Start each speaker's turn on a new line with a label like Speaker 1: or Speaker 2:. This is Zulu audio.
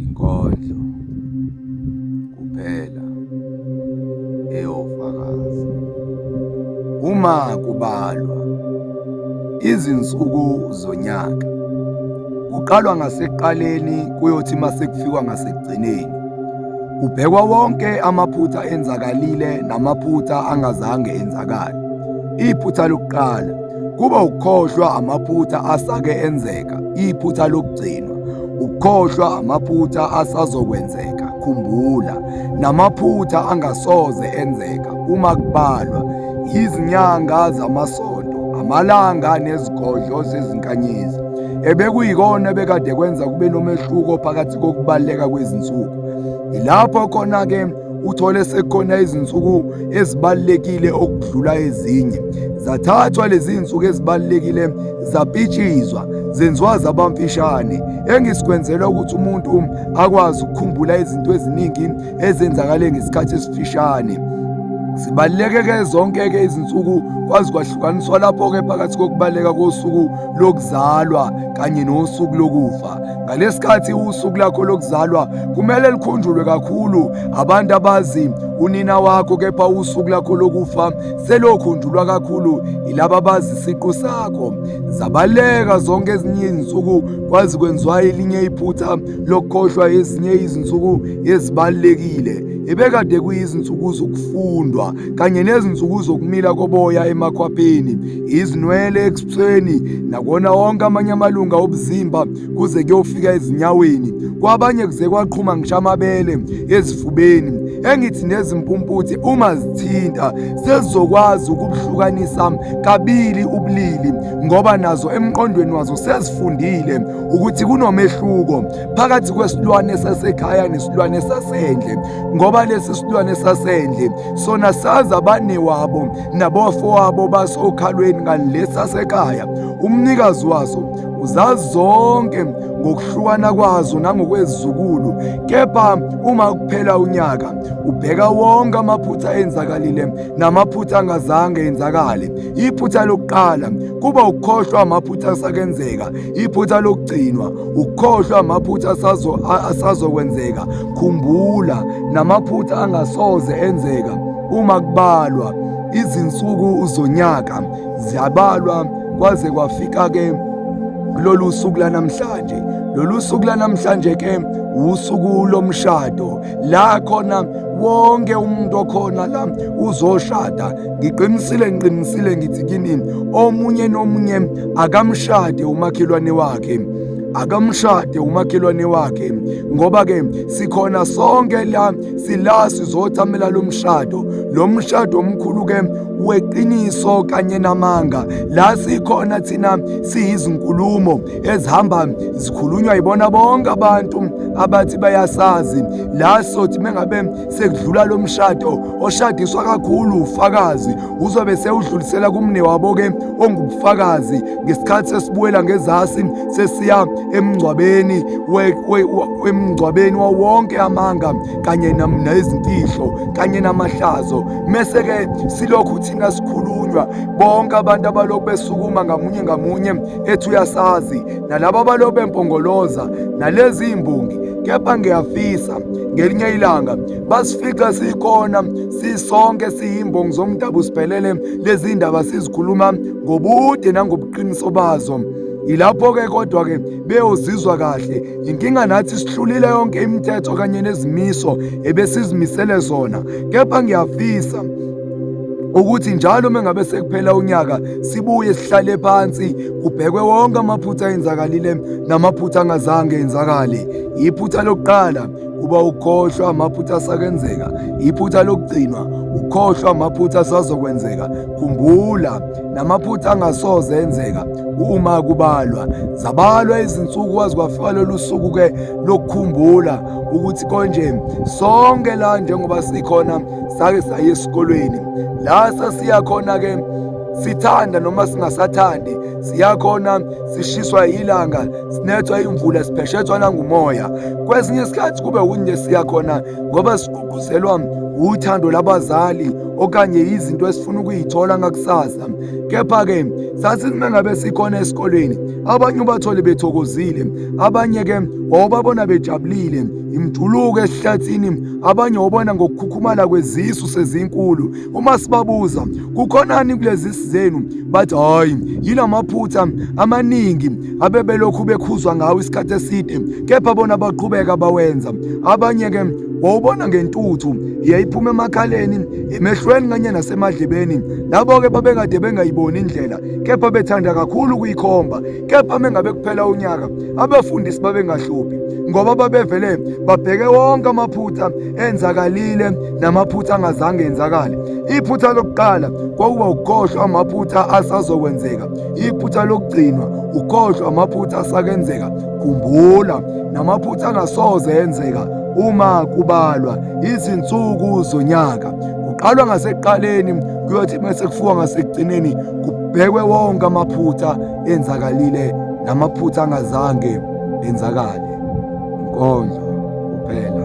Speaker 1: inkondlo kuphela eyofakaza uma kubalwa izinsuku zonyaka kuqalwa ngaseqaleni kuyothi mase kufikwa ngasekugcineni kubhekwa wonke amaphutha enzakalile namaphutha angazange enzakale iphutha lokuqala kuba ukukhohlwa amaphutha asake enzeka, iphutha lokugcinwa, ukukhohlwa amaphutha asazokwenzeka, khumbula, namaphutha angasoze enzeka uma kubalwa izinyanga zamasonto, amalanga nezigodlo zezinkanyezi ebekuyikona bekade kwenza kube nomehluko phakathi kokubaleka kwezinsuku. Yilapho khona-ke uthole sekukhona izinsuku ezibalulekile okudlula ezinye zathathwa lezi zinsuku ezibalulekile zapitshizwa zenziwa zabamfishane engisikwenzelwa ukuthi umuntu akwazi ukukhumbula izinto eziningi ezenzakale ngesikhathi esifishane zibaluleke-ke zonke-ke izinsuku kwazi kwahlukaniswa lapho-ke phakathi kokubaluleka kosuku lokuzalwa kanye nosuku lokufa Ngalesikhathi usuku lakho lokuzalwa kumele likhunjulwe kakhulu abantu abazi unina wakho kepha usuku lakho lokufa selokhunjulwa kakhulu yilaba abazi isiqu sakho zabaleka zonke ezinye izinsuku kwazi kwenziwa elinye iphutha lokukhohlwa ezinye izinsuku ezibalekile ebekade kuyizinsuku zokufundwa kanye nezinsuku zokumila koboya emakhwapheni izinwele ebusweni nakuwona wonke amanye amalunga obuzimba kuze kuyofika ezinyaweni kwabanye kuze kwaqhuma ngisho amabele ezifubeni engithi nezimpumputhe uma zithinta sezizokwazi ukubuhlukanisa kabili ubulili ngoba nazo emqondweni wazo sezifundile ukuthi kunomehluko phakathi kwesilwane sasekhaya nesilwane sasendle ngoba lesi silwane sasendle sona sazi abanewabo nabafowabo basokhalweni ngalesasekhaya umnikazi waso uzazi zonke ngokuhlukana kwazo nangokwezizukulu kepha uma kuphela unyaka ubheka wonke amaphutha enzakalile namaphutha angazange enzakale iphutha lokuqala kuba ukukhohlwa amaphutha asakenzeka iphutha lokugcinwa ukukhohlwa amaphutha asazokwenzeka khumbula namaphutha angasoze enzeka Uma kubalwa izinsuku zonyaka ziyabalwa kwaze kwafika ke lolu suku lanamhlanje lolu suku lanamhlanje ke usuku lomshado la khona wonke umuntu okhona la uzoshada ngiqinisile ngiqinisile ngithi kini omunye nomunye akamshade umakhelwane wakhe akamshade umakhelwane wakhe ngoba ke sikhona sonke la sila sizothamela lo mshado lo mshado omkhulu ke weqiniso kanye namanga la sikhona thina siyizinkulumo ezihamba zikhulunywa yibona bonke abantu abathi bayasazi la sothi mengabe sekudlula lo mshado oshadiswa kakhulu ufakazi uzobe sewudlulisela kumne wabo-ke ongubufakazi ngesikhathi sesibuyela ngezasi sesiya emngcwabeni emngcwabeni wawonke amanga kanye nezimfihlo kanye namahlazo mese-ke silokhu thina sikhulunywa bonke abantu abalokhu besukuma ngamunye ngamunye ethi uyasazi nalabo abalokhu bempongoloza nalezi imbongi kepha ngiyafisa ngelinye ilanga basifica sikhona sisonke siyimbongi zomdabu sibhelele lezi ndaba sizikhuluma ngobude nangobuqiniso bazo yilapho-ke kodwa-ke beyozizwa kahle yinkinga nathi sihlulile yonke imithetho kanye nezimiso ebesizimisele zona kepha ngiyafisa ukuthi njalo uma ngabe sekuphela unyaka sibuye sihlale phansi kubhekwe wonke amaphutha enzakalile namaphutha angazange enzakale iphutha lokuqala kuba ukhohlwa amaphutha asakenzeka iphutha lokugcinwa ukhohlwa amaphutha asazokwenzeka khumbula namaphutha angasoze enzeka uma kubalwa zabalwa izinsuku wazi kwafika lolu suku ke lokukhumbula ukuthi konje sonke la njengoba sikhona sake saye esikolweni la sasiya khona ke sithanda noma singasathandi siyakhona sishiswa ilanga sinethwa imvula sipheshethwa nangumoya kwesinye isikhathi kube wunye siya khona ngoba sigqugquzelwa wuthando labazali okanye izinto esifuna ukuyithola ngakusasa kepha-ke sasime ngabe sikhona esikolweni abanye ubathole bethokozile abanye-ke wawubabona bejabulile imjuluko esihlathini abanye wobona ngokukhukhumala kwezisu sezinkulu Uma sibabuza kukhonani kulezi zenu bathi hayi yilamaphutha amaningi abebelokhu bekhuzwa ngawo isikhathi eside kepha bona baqhubeka bawenza abanye ke wawubona ngentuthu yayiphuma emakhaleni emehlweni kanye nasemadlebeni labo ke babekade bengayiboni indlela kepha bethanda kakhulu ukuyikhomba kepha mengabe kuphela unyaka abefundisi babengahluphi ngoba babevele babheke wonke amaphutha enzakalile namaphutha angazange enzakale iphutha lokuqala kwakuba ukukhohlwa amaphutha asazokwenzeka iphutha lokugcinwa ukukhohlwa amaphutha asakenzeka khumbula namaphutha angasoze enzeka uma kubalwa izinsuku zonyaka kuqalwa ngasekuqaleni kuyothi uma sekufuwa ngasekugcineni kubhekwe wonke amaphutha enzakalile namaphutha angazange enzakale inkondlo kuphela